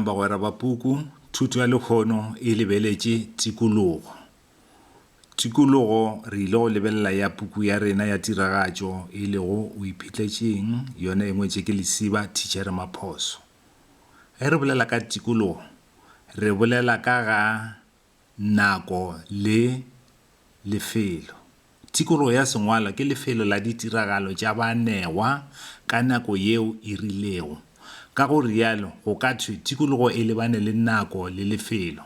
Bagwera ba puku Thuto ya Lekgono e lebeletše tikologo. Tikologo re ile go lebelela ya puku ya rena ya tiragatšo e lego O Iphetletšeng yona e ngwetše ke Lesiba Thitšhere Maphoso. Ge re bolela ka tikologo re bolela ka ga Nako le lefelo. Tikologo ya sengwalo ke lefelo la ditiragalo tša banewa ka nako yeo e rilego. Ka go realo go ka thwe tikologo e lebane le nako le lefelo.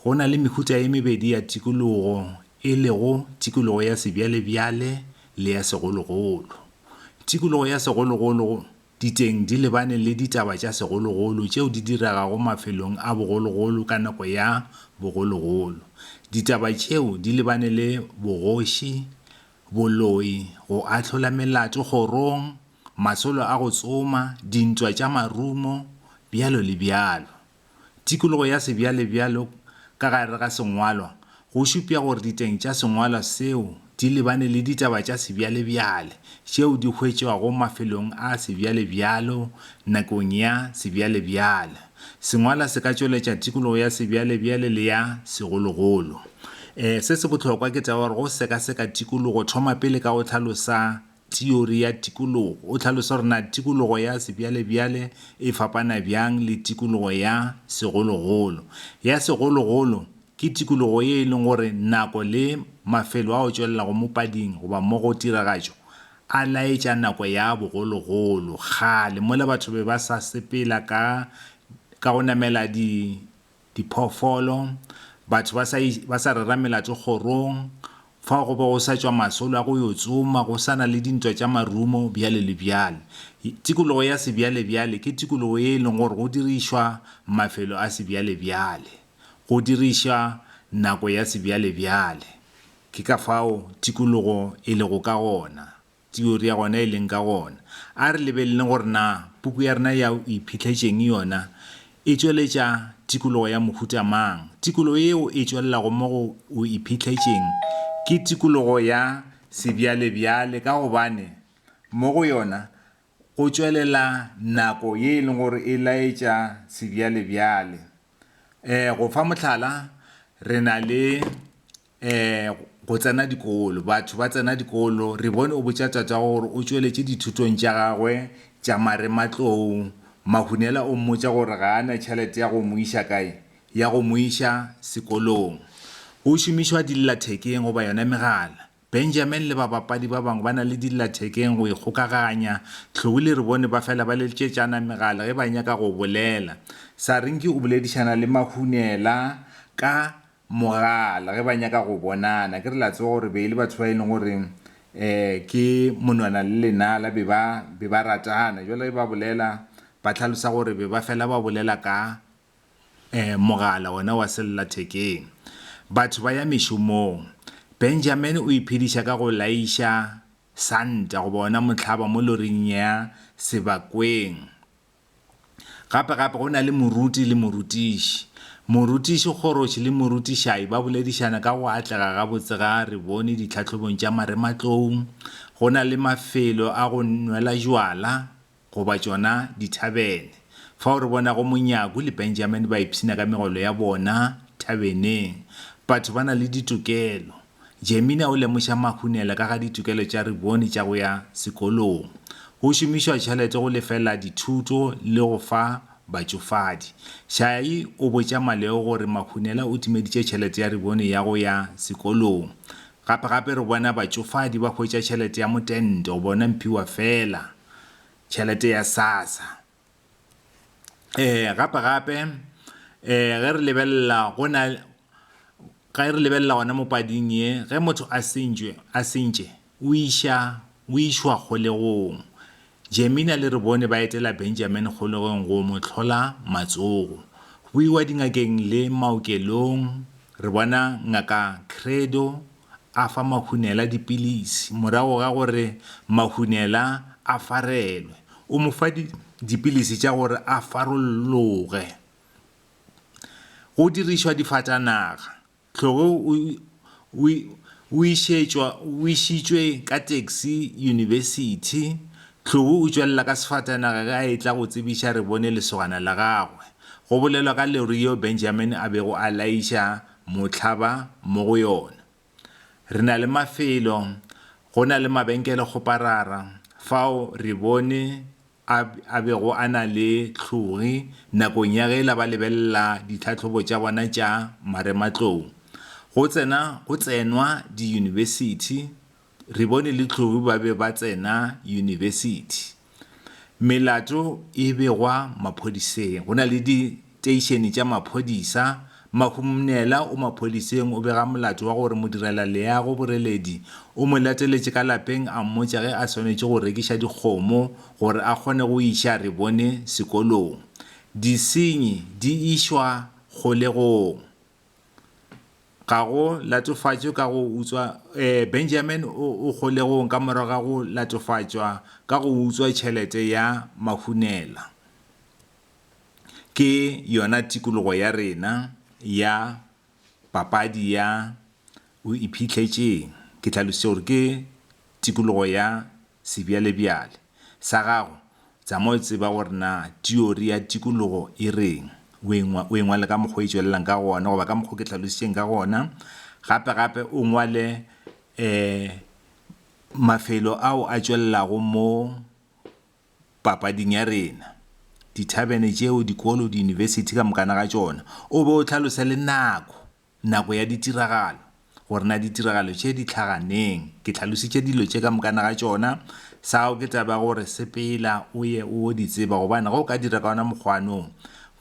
Go na le mehuta e mebedi ya tikologo e lego tikologo ya sebjalebjale le ya segologolo. Tikologo ya segologolo. Diteng di lebane le ditaba tša segologolo tšeo di diregago mafelong a bogologolo ka nako ya bogologolo. Ditaba tšeo di lebane le bogoši, boloi, go ahlola melato kgorong, masolo a go tsoma, dintwa tša marumo, bjalo le bjalo. Tikologo ya sebjalebjalo ka gare ga sengwalwa go šupša gore diteng tša sengwalwa seo di lebane le ditaba tša sebjalebjale tšeo di hwetšwago mafelong a sebjalebjalo nakong ya sebjalebjale. Sengwalwa se ka tšweletša tikologo ya sebjalebjale le ya segologolo. Se se bohlokwa ke taba ya gore go sekaseka tikologo thoma pele ka go hlalosa Teori ya tikologo. O hlalosa gore na tikologo ya sebjalebjale e fapana bjang le tikologo ya segologolo. Ya segologolo ke tikologo ye e leng gore nako le mafelo a o tšwelelago mo pading goba mo go tiragatšo a laetša nako ya bogologolo, kgale, mola batho be ba sa sepela ka ka go namela di diphoofolo, batho ba sa, ba sa rera melato kgorong, fao go be go sa tšwa masolo a go yo tsoma, go sa na le dintwa tša marumo, bjale le bjale. Tikologo ya sebjalebjale ke tikologo ye e lego gore go dirišwa mafelo a sebjalebjale, go dirišwa nako ya sebjalebjale. Ke ka fao tikologo e lego ka gona. Theory ya gona e leng ka gona. A re lebeleleng gore na puku ya rena ya O Iphihletshe'ng yona e tšweletša tikologo ya mohuta mang. Tikologo yeo e tšwelelago mo go O Iphihletshe'ng ke tikologo ya sebjalebjale ka gobane mo go yona go tšwelela nako ye e leng gore e laetša sebjalebjale. Ee, go fa mohlala, re na le um go tsena dikolo, batho ba tsena dikolo, re bone o botša tate wa gagwe gore o tšweletše dithutong tša gagwe tša marematlou. Mahunela o mmotša gore ga a na tšhelete ya go mo iša kae? Ya go mo iša sekolong. Go šomišwa dillathekeng goba yona megala. Benjamin le babapadi ba bangwe ba na le dillathekeng go ikgokaganya. Tlhou le Rebone ba fela ba letšetšana megala ge ba nyaka go bolela. Sarinki o boledišana le Mahunela ka mogala ge ba nyaka go bonana ke re la tseba gore be e le batho ba e leng gore um ke monwana le lenala be ba be ba ratana jwale ge ba bolela ba tlhalosa gore be ba fela ba bolela ka um mogala ona wa sellathekeng batho ba ya mešomong Benjamin o iphediša ka go laiša santa goba ona mohlaba mo loring ya sebakweng Gape gape go na le moruti le morutiši. Morutiši kgoroši le morutišai ba boledišana ka go atlega gabotse ga re bone ditlhahlobong tša marematloung, go na le mafelo a go nwela jwala goba tšona dithabene, fao re bonago Monyaku le Benjamin ba ipshina ka megolo ya bona thabeneng. Batho ba na le ditokelo. Jemina o lemoša Mahunela ka ga ditokelo tša Riboni tša go ya sekolong, go šomišwa tšhelete go lefela dithuto le go fa batšofadi. Shai o botša Maleo gore Mahunela o timeditše tšhelete ya Riboni ya go ya sekolong. Gape-gape re bona batšofadi ba hwetša tšhelete ya motento, bona Mphiwa feela tšhelete ya Sassa. eh gape gape eh ge re lebelela go na ge re lebelela gona mo pading ye ge motho a sentšwe a sentše o iša o išwa kgolegong. Jemina le re bone ba etela Benjamin kgolegong go mo hlola matsogo. Go iwa dingakeng le maokelong re bona ngaka Credo. a fa Mahunela dipilisi morago ga gore Mahunela a farelwe. O mo fa dipilisi tša gore a farolloge. Go dirišwa difatanaga. Tlhogo o išitšwe ka taxi yunibesithi. Tlhogo o tšwelela ka sefatanaga ge a etla go tsebiša re bone lesogana la gagwe. Go bolelwa ka Lerio Benjamin a bego a laiša mohlaba mo go yona. Re na le mafelo, go na le mabenkele kgoparara fao re bone a, a bego a na le hlogi nakong ya ge la ba lebelela ditlhahlobo tša bona tša marematlou. Go tsena, go tsenwa diyunibesithi, Re bone le Tlou ba be ba tsena yunibesithi. Melato e begwa maphodiseng. Go na le diteišene tša maphodisa. Mahumnela o maphodiseng o bega molato wa gore modirelaleago Boreledi o mo lateletše ka lapeng a mmotša ge a swanetše go rekiša dikgomo gore a kgone go iša Re bone sekolong. Disenyi di išwa kgolegong. Ga go latofatšwe ka go utswa, ee, Benjamin o, o kgolegong ka morago ga go latofatšwa ka go utswa tšhelete ya mahunela. Ke yona tikologo ya rena ya papadi ya O Iphihlets'eng? Ke hlalošitše gore ke tikologo ya. sebjalebjale, sa gago, tsamao e tseba gore na tiori ya tikologo e reng, o e, o e ngwale ka mokgwa o e tšwelelang ka gona, goba ka mokgwa o ke hlalošitšeng ka gona. Gape, gape o ngwale um mafelo ao a tšwelelago mo papading ya rena, dithabene tšeo, dikolo, diyunibesithi ka mokana ga tšona, o be o hlalose le nako. Nako ya ditiragalo, gore na ditiragalo tše di hlaga neng. Ke hlalositše dilo tše ka mokana ga tšona, sa gago ke taba ya gore sepela o ye o yo di tseba gobane ge o ka dira ka wona mokgwanong.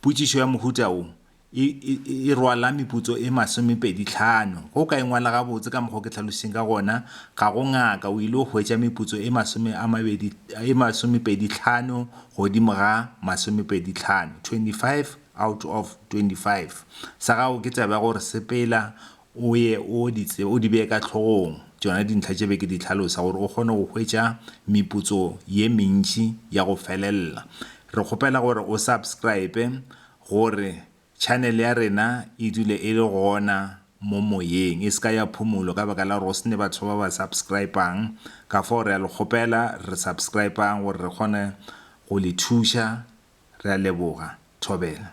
Potšišo ya mohuta wo e, e, e rwala meputso e masomepedi tlhano. Ge o ka e ngwala gabotse ka mokgwa o ke hlalositšeng ka gona, ga go ngaka o ile o hwetša meputso e masome a mabedi, e masomepedi tlhano godimo ga masomepedi tlhano, 25, out of 25 sa gago ke taba ya gore sepela o ye o di tsebe o di beye ka hlogong tšona dintlha tše be ke di hlalosa gore o kgone go hwetša meputso ye mentši ya go felelela re kgopela gore o subscribe gore channel ya rena e dule e le gona mo moyeng e se ka ya phumulo ka baka la gore go sene batho ba ba subscribang ka fao re a le kgopela re subscribang gore re kgone go le thuša Re a leboga. Thobela.